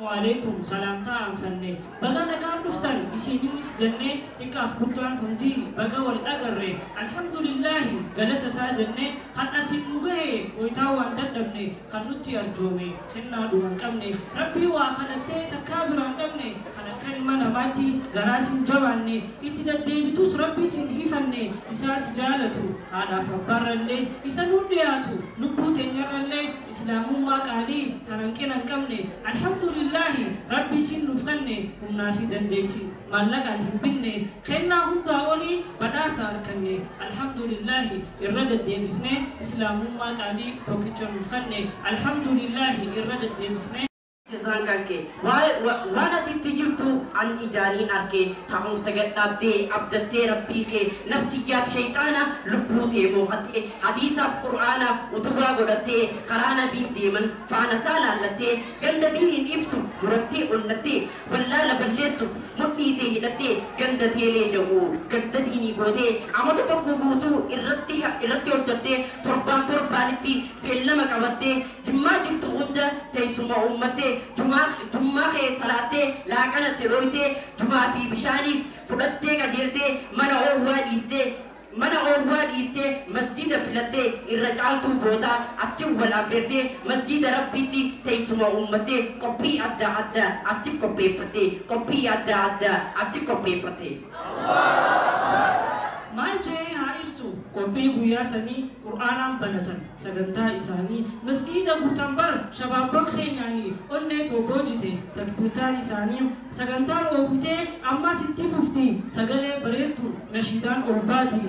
Waaleykum salaam taa anfanne baga nagaan dhuftan isiininis jennee xiqqaaf guddaan hundii baga wal agarre alhamdulillaahi galata isaa jennee kan asiin nu gahe gooytaa waan dadhabne kan nutti arjoome kennaa dhuma hin qabne rabbii waa kadhattee takkaa biraa hin dhabne kan akka ilma namaatti garaa sin jabaanne itti daddeebitus rabbii sin hifanne isaa si jaalatu haadhaaf abbaarrallee isa nuun dhiyaatu lubbuu teenyarrallee Islaamummaa qaalii tan hanqina hin qabne Alhamdulillaahi Rabbi isiin nuuf kanne humnaa fi dandeetti maallaqaan hin binne kennaa hundaa olii badhaasa arkanne Alhamdulillaahi irra deddeebifnee Islaamummaa qaalii tokkicha nuuf kanne Alhamdulillaahi irra deddeebifnee Jazaan kanke waan ati itti jirtu an ijaani arke taa'umsa gad dhaabdee abdattee rabbii kee nafsiyyaaf sheyxaana lubbuu tee moohatte hadiisaaf qur'aana utubaa godhatte karaa nabiin deeman faana isaa laallatte ganda diiniin ibsu murattee onnatte wallaala balleessuuf mudhii tee hidhatte ganda teelee jahu ganda diinii goote amata tokko guutuu irratti hojjatte torbaan torbaanitti beellama qabatte Jimmaa jirtu hunda teessuma uummatte, jumaa, jummaa kee salaattee, laaqana itti dhooytee, jumaa fi bishaaniis fudhattee qajeeltee, mana oowwaa dhiistee, mana oowwaa dhiistee masjiida filattee, irra caaltuu boodaa achi wal afeertee, masjiida Rabbiitti teessuma uummattee, qophii adda addaa achi qopheeffattee, qophii adda addaa achi qopheeffattee. Maal je'ee haa ibsu? Qophii guyyaa sanii qur'aanaan banatan. Sagantaa isaanii Masgiida guutan bara shabaabban keenyaani onnee too boojite takbiirtaan isaanii Sagantaan oowwitee ammaas itti fufti Sagalee bareedduun nashiidaan ol baati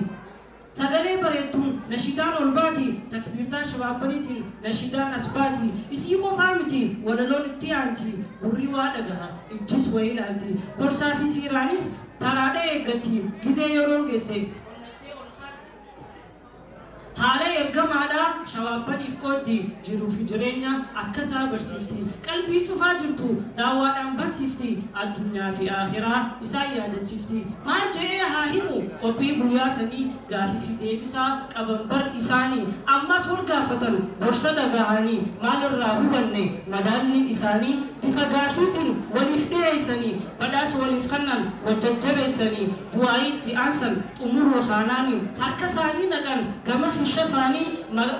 Sagalee bareedduun nashiidaan ol baati Takbiirtaa shabaabbaniitiin nashiidaan as baati Isii qofaa miti walaloon itti aanti Gurri waa dhagaha ijjis wa ilaalti Gorsaa fi siiraanis taraadha eeggatti Gizee yeroon geesse onnaltee ol kaati. Haala ergamaadha shawaabaniif qooddi jiruufi jireenya akkasaa barsiifti qalbii cufaa jirtu daawaadhaan bansifti addunyaafi aakhiraa isaan yaadachifti maal je'ee haa himu qophii guyyaa sanii gaafifi deebisaa qaban bar isaani ammas wal gaafatan gorsa dhagahani maal irraa hubanne madaalliin isaanii bifa gaafiitin waliif dhiheeysani Badhaasa waliif kannan wal jajjabeessani du'aa'ii itti aansan xumuruu kaanaani harka isaanii naqan gama kisha isaanii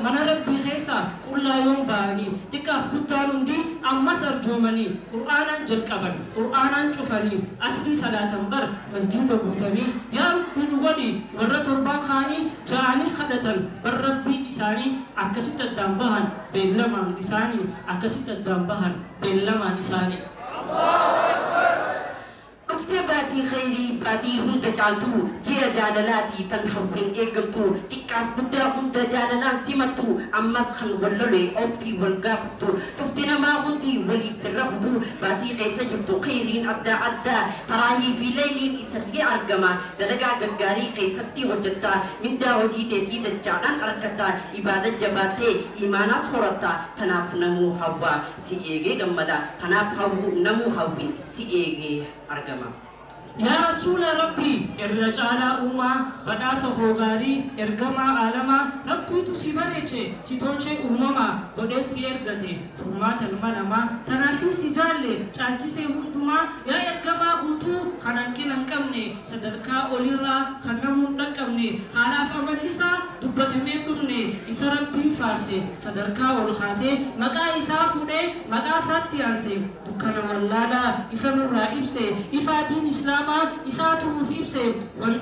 mana Rabbii keessaa qullaa yoom ba'ani xiqqaaf guddaan hundii ammas arjoomani qur'aanaan jalqaban qur'aanaan cufani asrii salaatan bar masjiida guutani yaa Rabbii nu godhi warra torbaan kaanii ja'aanii kadhatan bar Rabbii isaanii akkasitti addaan bahan beellamaan isaani akkasitti addaan bahan beellamaan isaani. Dhuftee baatii khayrii baatii hunda caaltu Ji'a jaalalaati tan hawwiin eeggamtu Xiqqaaf guddaa hunda jaalalaan simattu Ammas kan wal lole obsii wal gaafattu Cufti namaa hundi waliif hin rafutu Baatii keessa jirtu khayriin addaa addaa Taraahii fi layliin isallee argama Dalagaa gaggaarii keessatti hojjatta Mindaa hojii teetii dachaadhaan arkatta Ibaada jabaattee iimaanaas horatta Tanaaf namuu hawwa si eegee gammadaa tanaaf hawwuu namuu hawwii si eegee argamaa. Yaa Rasuula Rabbii irra caalaa uumaa badhaasa koo gaarii ergamaa aalamaa Rabbiitu si bareeche si tolchee uumamaa godhee si ergate furmaata ilma namaa tanaafii si jaalle caalchisee hundumaa yaa ergamaa guutuu kan hanqina hin qabne sadarkaa olirraa kan namuu hin dhaqqabne, haalaaf amalli isaa dubbatamee hin dhumne, isa Rabbiin faarse, sadarkaa ol kaasee, maqaa isaa fuudhee, maqaa isaatti aanse, dukkana wallaalaa isa nurraa ibse, ifaa diin Islaamaa isaatu nuuf ibse, wan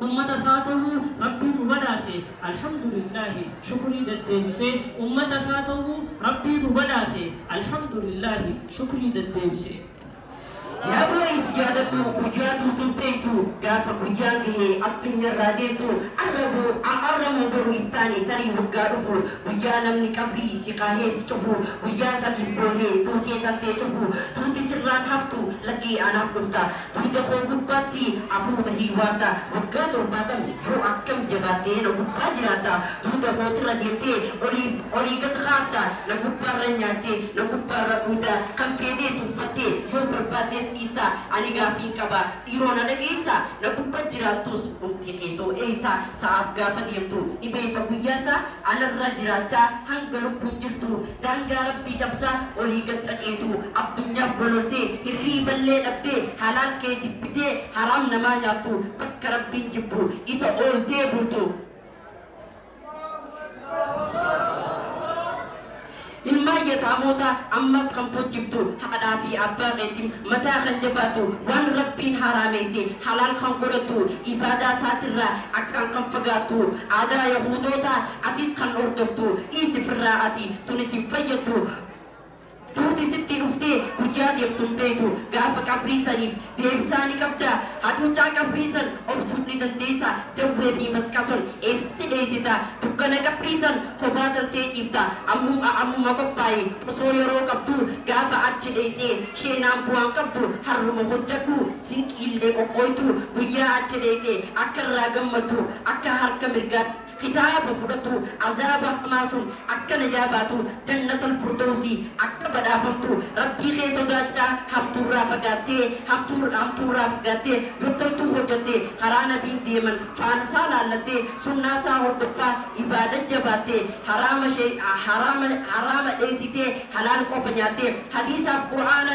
ummata isaa ta'uu Rabbii nu badhaase, Alhamdulillaahi, shukrii daddeebisee, ummata isaa ta'uu Rabbii nu badhaase, Alhamdulillaahi, shukrii daddeebisee. Yaa boo if jaaladhu guyyaa dur dur beektu gaafa guyyaan gahe addunyarraa deemtu arra boo a arra moo boru if taane tarii waggaa dhufu guyyaa namni qabrii si kaahee si cufu guyyaa sadiif boohee tuusee tantee cufu duuti sirraan haftu lakkii anaaf dhufta duyda koo gubbaatti atuu na hiiwaarta waggaa torbaatam yoo akkam jabaattee na gubbaa jiraatta duuda kootirra deemtee oliif olii gad kaafta Na gubbaarran nyaattee, na gubbaarran dhugda, kan feetees uffattee, yoo barbaaddes dhiista. Ani gaaffiin qaba, dhiiroo na dhageessaa? Na gubba jiraattus dhumti keetoo eessa? Sa'aaf gaafa deemtu ni beekta guyyaasaa? Anarra jiraachaa hanga lubbuun jirtu, daangaa Rabbii cabsaa olii gad xaxeetu, addunyaaf bololtee, hirriiballee dhabdee, halaal kee jibbitee, haraam namaa nyaattu, bakka Rabbiin jibbu isa ooltee bultu. Ilmaan yataamootaas ammas kan bochiftu haadhaa fi abbaa keeti. Mataa kan jabaatu, waan Rabbiin haaraameeyse halaal kan godhatu, ibaadaa isaatirraa akkaan kan fagaattu, aadaa yahuudootaa atis kan hordoftu, dhiisi firraa ati, tun isin fayyaddu. Duuti sittii dhuftee guyyaa deemtu hin beeytu. Gaafa qabrii saniif deebisaa ni qabdaa? Hacuuccaa qabrii san obsuuf ni dandeeysaa? Jawwee fii masqason eessatti dheeysitaa? Dukkana qabrii san kophaa galtee ciiftaa? Ammum a ammuma qophaayi. Osoo yeroo qabduu gaafa achi dheeyxee sheenaan bu'aan qabdu harruma hojjadhu, sinqiillee qoqqooytu. Guyyaa achi dheeyxee akka irraa gammadduuf akka harka mirgaatti kitaaba fudhatu azaaba hamaa sun akka najaa baatu jannatal furdowsi akka badhaafamtu Rabbii kee sodaachaa hamtuurraa fagaattee hamtuu hamtuurraa fagaattee yoo toltuu hojjatte karaa nabiin deeman faalsaa laallattee sunnaasaa hordoffaa ibaadan jabaatte haraama shee haraama haraama dheeysitee halaal qofa nyaatte hadiisaaf qur'aana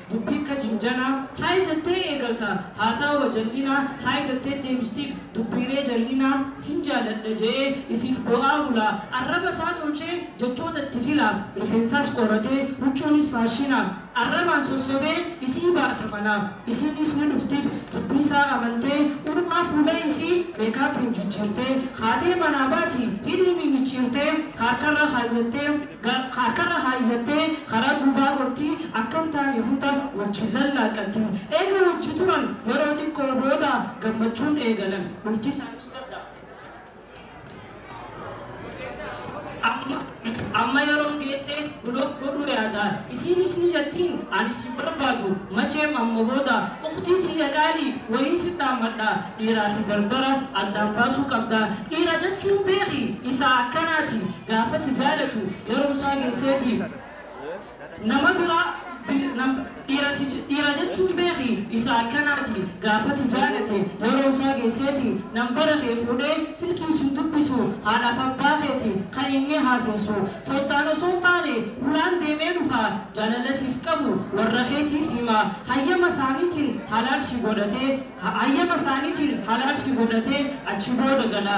Dubbii akka jinjanaa, Haay jettee eegalta, haasaa wa jal'inaa, Haay jettee deebistiif, dubbiilee jal'inaa, Sin jaaladha je'ee, isiif boo'aa bulaa, Arraba isaa tolchee, jechoota itti filaaf, Rifeensaas qoratee, huccuunis faashinaaf, Arrabaan sossobee, isii baasa manaaf, Isiinis ni dhuftiif, dubbii isaa amantee, Uumaa fuula isii, meekaapiin jijjiirtee, Kaatee manaa baati, hidhiinii micciirtee, Haarkarra kaayyattee, Harkarra kaayyattee karaa duubaa gorti, akka hin taane hunda wajjin lallaaqqatti. Eega wajji turan yeroo xiqqoo booda gammachuun eegalan. Bulti isaanii gadda. Amma yeroon geesse block godhuu yaada. Isiinis ni jettiin ani si hin barbaadu. Macheem amma booda ukhtii tiyya qaalii wahiin si dhaammadha. Dhiiraa fi dardara addaan baasuu qabda. Dhiira jechuun beeki isa akkanaati. Gaafa si jaalatu yeroo isaa geesseetiif nama bira dhiira si dhiira jechuun beeki isa akkanaati gaafa si jaalate yeroo isaa geesseeti nambara kee fuudhee silkii sun dubbisu haadhaaf abbaa keeti kan inni haaseessu fottaan osoo hin taane hulaan deemee dhufa jaalala siif qabu warra keetiif hima hayyama isaaniitiin halaal si godhatee hayyama isaaniitiin halaal si godhatee achi booda gala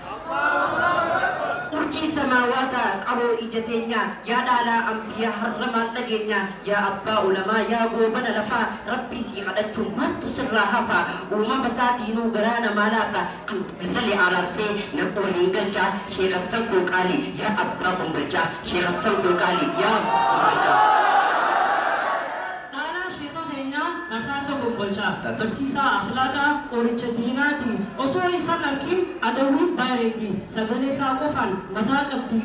Urjii samaawaataa qaroo ija teenyaa Yaa dhaalaa anbiyaa har'a maal dhageenyaa Yaa abbaa ulamaa yaa goobana lafaa Rabbii sii kadhachuun maaltu sirraa hafa Uumama saatiinuu garaa namaa laafa Kan Bilali araabsee nama waliin galchaa Sheekh Hassan koo qaalii yaa abbaa kombolchaa Sheekh Hassan koo qaalii yaa abbaa kombolchaa. Dhaalaa sheekha keenyaa rasaasa kombolcha. Barsiisaa akhlaaqa qoricha diinaati. Osoo isan arkin adawwiin bareeddi. Sagalee isaa qofaan mataa qabdi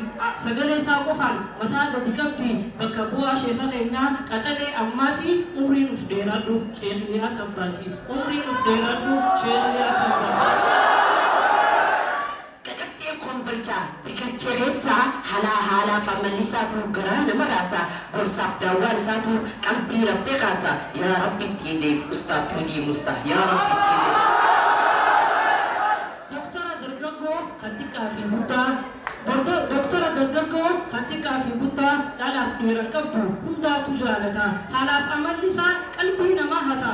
Sagalee isaa qofaan mataa gadi qabdi Bakka bu'aa sheekha keenyaa qaxalee Ammaasi umrii nuf dheeraadhu Sheikh Ilyaas Abbaasi Umrii nuf dheeraadhu Sheikh Ilyaas Abbaasi. Qaqacceen Kombolchaa, Biqilchereessaa, halaa haalaaf amalli isaatuu garaa nama raasa, gorsaaf daawwaan isaatuu qalbii rabtee kaasa, yaa rabbi itti hideef ustaaz Tuujii Muussaa, yaa rabbi itti hideef. Doktora dargaggoo kan xiqqaa fi guddaa Dorgo, Doktora dargaggoo kan xiqqaa fi guddaa dhalaaf dhiiran qabdu hundaatu jaalata, haalaaf amalli isaa qalbii namaa hata,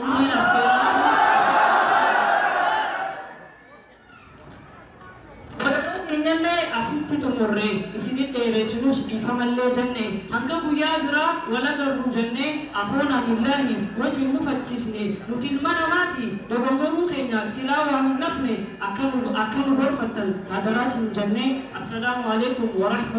Umriin as ga'uu Barnoota keenyallee asitti xumurre isinin dheeressinus dhiifamallee jenne hanga guyyaa biraa wal agarru jennee akhoona billaahi was hin mufachiisne nuti ilma namaati dogongoruu keenya silaa waa hin nafne akka nu akka nu gorfattan hadaraa sin jenne assalaamu aleeykum warahmatu